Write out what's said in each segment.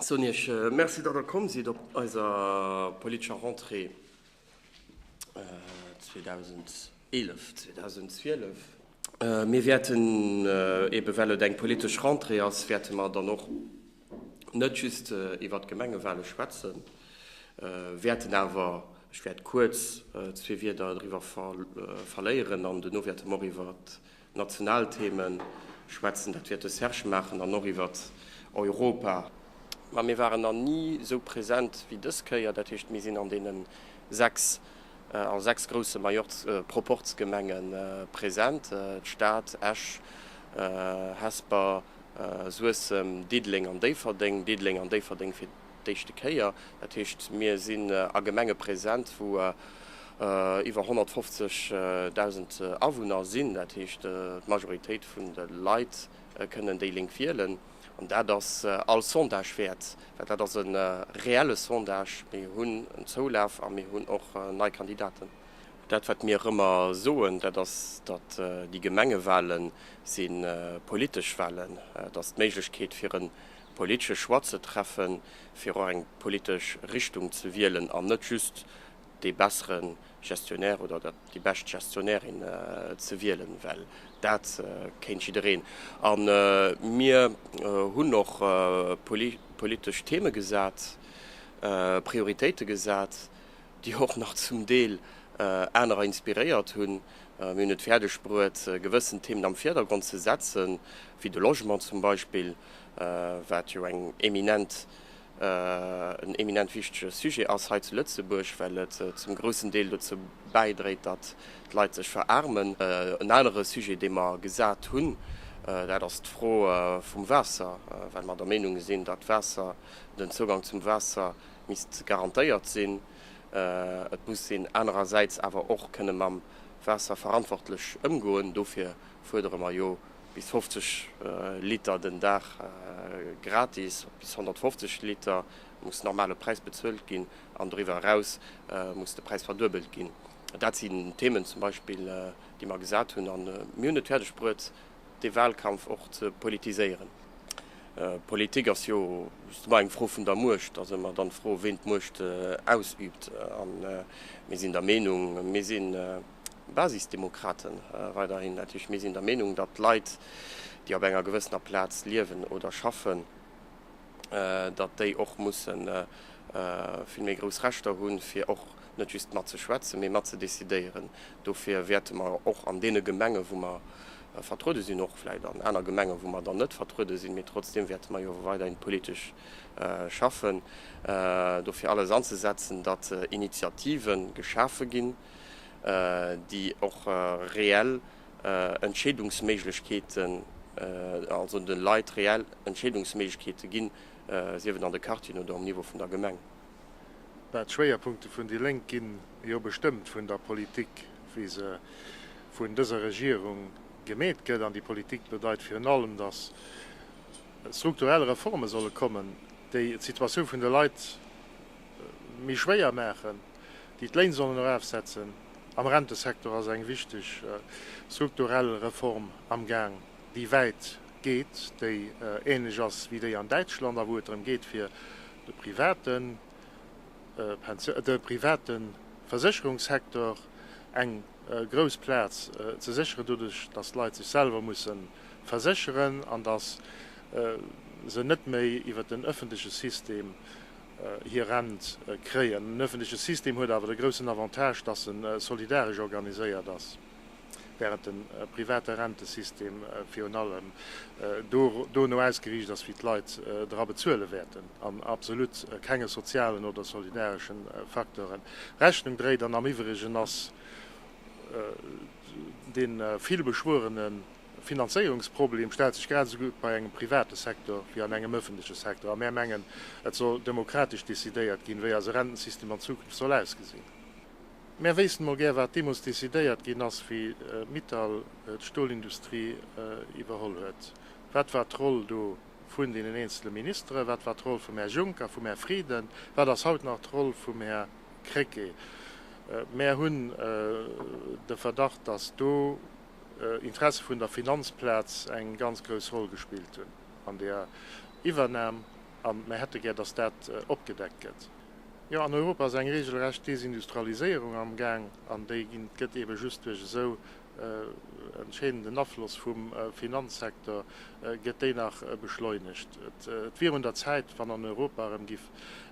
Soen Iech Merci, datt Der komm sidd op eiser politescher Rentrée 2011, 2012. Mir wäerten, eebe well et eng politesch Rentrée ass, wäerte mer dann och net just iwwert d'Gemengewale schwätzen, wäerten awer, ech wäert kuerz zwee Wieder driwwer verléieren an duerno wäerte mer och iwwert National Themen schwätzen, dat wäert de Serge maachen, an och iwwert Europa. Mä mir waren nach ni esou present wéi dës Kéier. Dat heescht, mir sinn an deene sechs, a sechs grousse Majorz-, Proporz-Gemenge present, d'Stad, Esch, Hesper, Suessem, Diddeleng an Déifferdeng. Diddeleng an Déifferdeng fir d'éischte Kéier. Dat heescht, mir sinn a Gemenge present, wou iwwer 150.000 Awunner sinn. Dat heescht, d'Majoritéit vun de Leit kënnen déi Lénk wielen. An dat ass all Sondage wäert, well dat ass e reelle Sondage. Mir hunn en Zoulaf a mir hunn och nei Kandidaten. Dat, wat mir ëmmer soen, dat ass, datt déi Gemengewahlen si politesch Wahlen. Et ass d'Méiglechkeet, fir e politesche Choix ze treffen, fir och eng politesch Richtung ze wielen an net just dee bessere Gestionnaire oder dat déi bescht Gestionärin ze wielen, well dat kéint jiddereen. A mir hunn och politesch Theme gesat, Prioritéite gesat. déi och nach zum Deel anerer inspiréiert hunn. Mir hunn et fäerdeg bruet, gewëssen Themen am Virdergrond ze setzen, wéi de Logement zum Beispill, wat jo en eminent wichtege Sujet ass hei zu Lëtzebuerg, well et zum groussen Deel dozou bäidréit, datt d'Leit sech veraarmen. En anere Sujet, dee mer gesat hunn, dat ass d'Fro vum Waasser, well mer der Meenung sinn, datt d'Waasser, den Zougang zum Waasser misst garantéiert sinn. Et muss een anerersäits awer och kënne mam Waasser verantwortlech ëmgoen. Dofir fuerdere mer jo bis 50 Liter den Dag gratis, bis 150 Liter muss normale Präis bezuelt ginn an doriwwer eraus muss de Präis verduebelt ginn. Dat sinn Themen zum Beispill, déi mer gesat hunn. A mir hunn et fäerdeg bruet, dee Wahlkampf och ze politiséieren. Politik ass jo justement eng Fro vun der Muecht. Da si mer dann fro, ween d'Muecht ausübt. A mir sinn der Meenung, mir si Basisdemokraten weiderhin, dat heescht, mir sinn der Meenung, datt Leit, déi op enger gewëssener Plaz liewen oder schaffen, datt déi och musse vill méi grouss Rechter hunn, fir och net just mat ze schwätzen, mee mat ze decidéieren. Dofir wäerte mer och an deene Gemengen, wou mer vertruede sinn, och vläicht an aner Gemengen, wou mer dann net vertruede sinn, mee trotzdeem wäerte mer jo weiderhin politesch schaffen, dofir alles anzesetzen, datt Initiative geschafe ginn, déi och reell Entscheedungsméiglechkeeten, also de Leit reell Entscheedungsméiglechkeete ginn, sief et an de Quartieren oder um Niveau vun der Gemeng. Mä d'Schwéierpunkte vun déi Lénk gi jo bestëmmt vun der Politik, wéi se vun dëser Regierung gemeet gëtt. An déi Politik bedeit virun allem, datt strukturell Reforme solle kommen, déi d'Situatioun vun de Leit méi schwéier maachen. déi d'Léin sollen erafsetzen. Am Rentesektor ass eng wichteg strukturell Reform am Gaang, déi wäit geet, déi ähnlech ass wéi déi an Däitschland a wou et drëm geet fir de private Versécherungssektor eng grouss Plaz ze sécheren, doduerch datt d'Leit sech selwer musse versécheren an datt se net méi iwwer den öffentleche System hir Rent kréien. Den ëffentleche System huet awer de groussen Avantage, dass e solidaresch organiséiert ass, wärend de private Rentesystem virun allem dono ausgeriicht ass, wéi d'Leit dra bezuele wäerten, an absolut kenge sozialen oder solidaresche Facteuren Rechnung dréit. An am iwweregen ass dee vill beschwuerene E Finanzéierungsproblem stellt sech grad esou gutt bei engem private Secteur wéi an engem ëffentleche Secteur. A mär mengen, et soll demokratesch decidéiert ginn, wéi eise Rentensystem an Zukunft soll ausgesinn. Mär wéissten mol gär, wat deemools decidéiert ginn ass, wéi Mittal d'Stolindustrie iwwerholl huet. Wat war d'Roll do vun deenen eenzele Ministeren? Wat war d'Roll vum Här Juncker, vum Här Frieden? Wat ass haut nach d'Roll vum Här Krecké? Mär hunn de Verdacht, dass do Interesse vun der Finanzplaz eng ganz grouss Roll gespillt hunn an der Iwwernam, a mir hätte gär, dass dat opgedeckt gëtt. Jo, an Europa ass eng regelrecht Desindustrialiséierung amgaang, an déi gëtt eebe just duerch esou entscheedenden Afloss vum Finanzsektor, gëtt déi nach beschleunegt. Et wier un der Zäit, wann an Europa erëm giff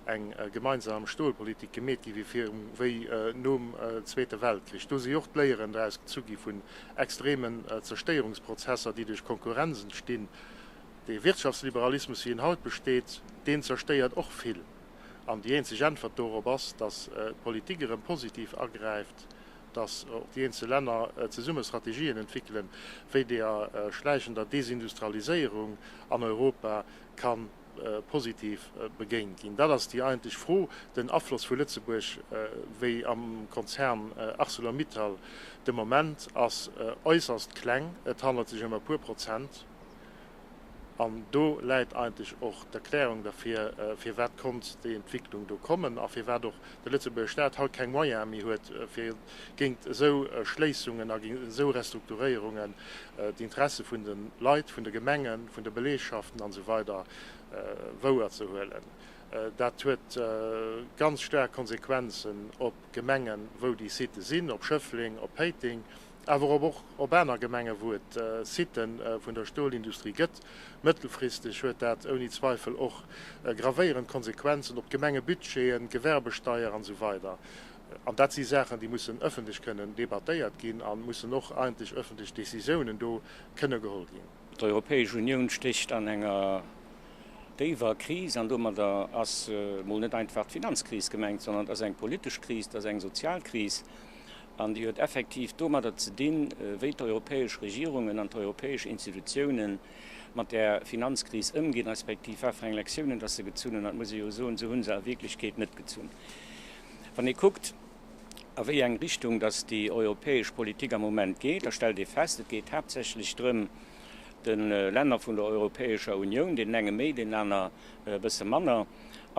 eng gemeinsam Stolpolitik gemeet gi wéi virum, wéi nom Zweete Weltkrich. Do si jo och d'Léieren draus gezu gi vun extremen Zerstéierungsprozesser, déi duerch Konkurrenz entstinn. Dee Wirtschaftsliberalismus, wéi en haut besteet, deen zerstéiert och vill. An déi eenzeg Äntwert dorop ass, datt d'Politik erëm positiv agräift, datt och déi eenzel Länner zesumme Strategien entwéckelen, wéi der schläichender Desindustrialiséierung an Europa kann positiv begéint ginn. Dat ass déi eigentlech Fro, den Afloss vu Lëtzebuerg wéi am Konzern Arcelor-Mittal. De Moment ass äusserst kleng, et handelt sech ëm e puer Prozent. An do läit eigentlech och d'Erklärung derfir, firwat konnt déi Entwicklung do kommen a firwat och de Lëtzebuerger Staat haut keng Moyene méi huet, fir géint esou Schléissungen a géint esou Restrukturéierungen d'Interesse vun de Leit, vun de Gemengen, vun de Beleegschaften an esou weider wouer ze huelen. Dat huet ganz staark Konsequenzen op Gemengen, wou déi Sitë sinn, op Schëffleng, op Péiteng, awer op och op aner Gemengen, wou et Sitë vun der Stolindustrie gëtt. Mëttelfristeg huet dat ouni Zweifel och gravéierend Konsequenzen op d'Gemengebudgeten, Gewerbesteier an esou weider. An dat si Saachen, déi mussen öffentlech kënnen debattéiert ginn a mussen och eigentlech öffentlech Décisiounen do kënne geholl ginn. D'Europäesch Unioun stécht an enger déiwer Kris, an domadder ass emol net einfach d'Finanzkris gemengt, sondern et ass eng politesch Kris, et ass eng sozial Kris, an déi huet effektiv domadder ze dinn, wéi d'europäesch Regierungen an d'europäesch Institutiounen mat där Finanzkris ëmginn, respektiv wat fir eng Lektiounen datt se gezunn hunn. An et muss ee jo soen, se hu se a Wierklechkeet net gezunn. Wann ee kuckt, a wéi eng Richtung datt déi europäesch Politik am Moment geet, da stellt ee fest, et geet haaptsächlech drëm, de Länner vun der Europäescher Unioun, deenen enge méi, deenen aner e bësse manner,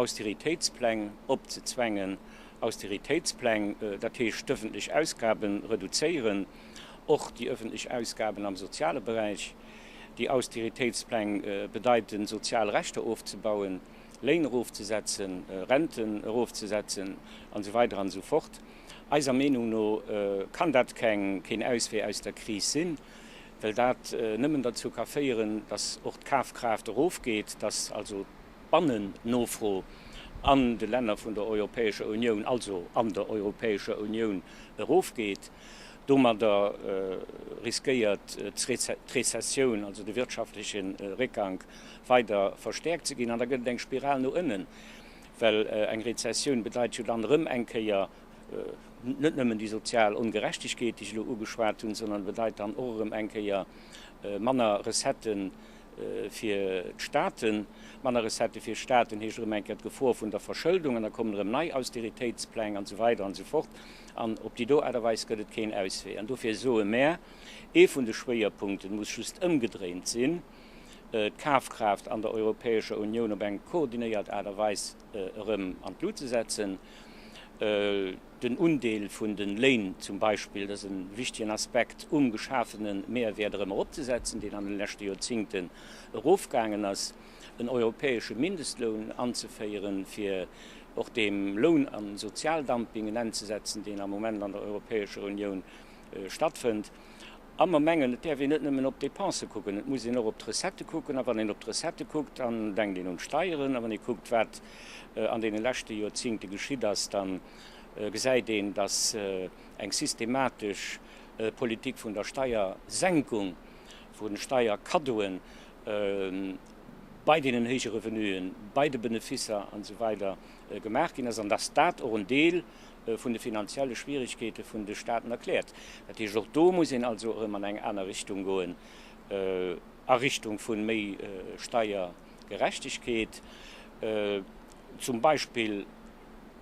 Austeritéitspläng opzezwängen. Austeritéitspläng, dat heescht d'ëffentlech Ausgabe reduzéieren, och déi ëffentlech Ausgaben am soziale Beräich. Déi Austeritéitspläng bedeiten, sozial Rechter ofzebauen. Léin erofzesetzen, Renten erofzesetzen an esou weider an esou fort. Eiser Meenung no kann dat keen Auswee aus der Kris sinn, well dat nëmmen derzou ka féieren, dass och d'Kafkraaft erofgeet, dass also d'Bannennofro an de Länner vun der Europäescher Unioun, also an der Europäescher Unioun erofgeet, domadder riskéiert d'Rezessioun, also de wirtschaftleche Réckgank weider verstäerkt ze ginn, an da gëtt et eng Spiral no ënnen, well eng Rezessioun bedeit jo dann erëm eng Kéier net nëmmen déi sozial Ongerechtegkeet, déi ech elo ugeschwat hunn, sondern bedeit dann och erëm eng Kéier manner Recettë fir d'Staaten. Manner Recettë fir d'Staaten heescht erëm eng Kéier d'Gefor vun der Verschëldung, an da kommen erëm nei Austeritéitspläng an esou weider an esou fort. An op déi do Aart a Weis gëtt et keen Auswee. An dofir soe mär, ee vun de Schwéierpunkte muss just ëmgedréint sinn. d'Kafkraaft an der Europäescher Unioun op eng koordinéiert Aart a Weis erëm an d'Lut ze setzen. Den Undeel vun de Léin zum Beispill, dat ass e wichtegen Aspekt, um geschafene Mehrwäert erëm eropzesetzen, deen an de leschte Joerzingten erofgaangen ass. En europäesche Mindestloun anzeféieren, fir och dem Loun a Sozialdumping en Enn ze setzen, deen am Moment an der Europäescher Unioun stattfënnt. A mer mengen, et däerf een net nëmmen op d'Depensë kucken, et muss een och op d'Recettë kucken. A wann een op d'Recettë kuckt, da denkt een un d'Steieren. A wann ee kuckt, wat an deene leschte Joerzingte geschitt ass, da gesäit een, datt eng systematesch Politik vun der Steiersenkung, vu Steierkaddoen bei deenen héije Revenuen, bei de Beneficer an esou weider gemaach ginn ass, an datt dat och en Deel vun de finanzielle Schwierigkeete vun de Staaten erkläert. Dat heescht, och do muss een also erëm an eng aner Richtung goen, a Richtung vu méi Steiergerechtigkeet, zum Beispill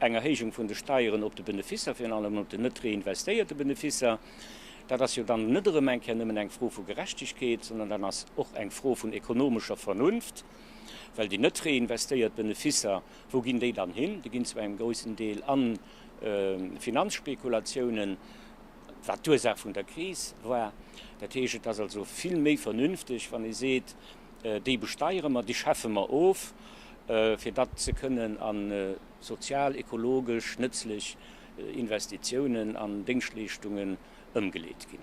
eng Erhéijung vun de Steieren op de Benefisser, virun allem op den net reinvestéierte Benefisser. Dat ass jo dann net erëm eng Kéier nëmmen eng Fro vu Gerechtigkeet, sondern dat ass och eng Fro vun ekonomescher Vernunft, well déi net reinvestéiert Benefisser Wou ginn déi dann hin? Déi ginn zu engem groussen Deel a Finanzspekulatiounen, wat d'Ursaach vun der Kris war. Dat heescht, et ass also vill méi vernünfteg, wann ee seet, déi besteiere mer, déi schaffe mer of, fir datt se kënnen a sozial, ekologesch nëtzlech Investitiounen an Déngschtleeschtungen ëmgeleet ginn.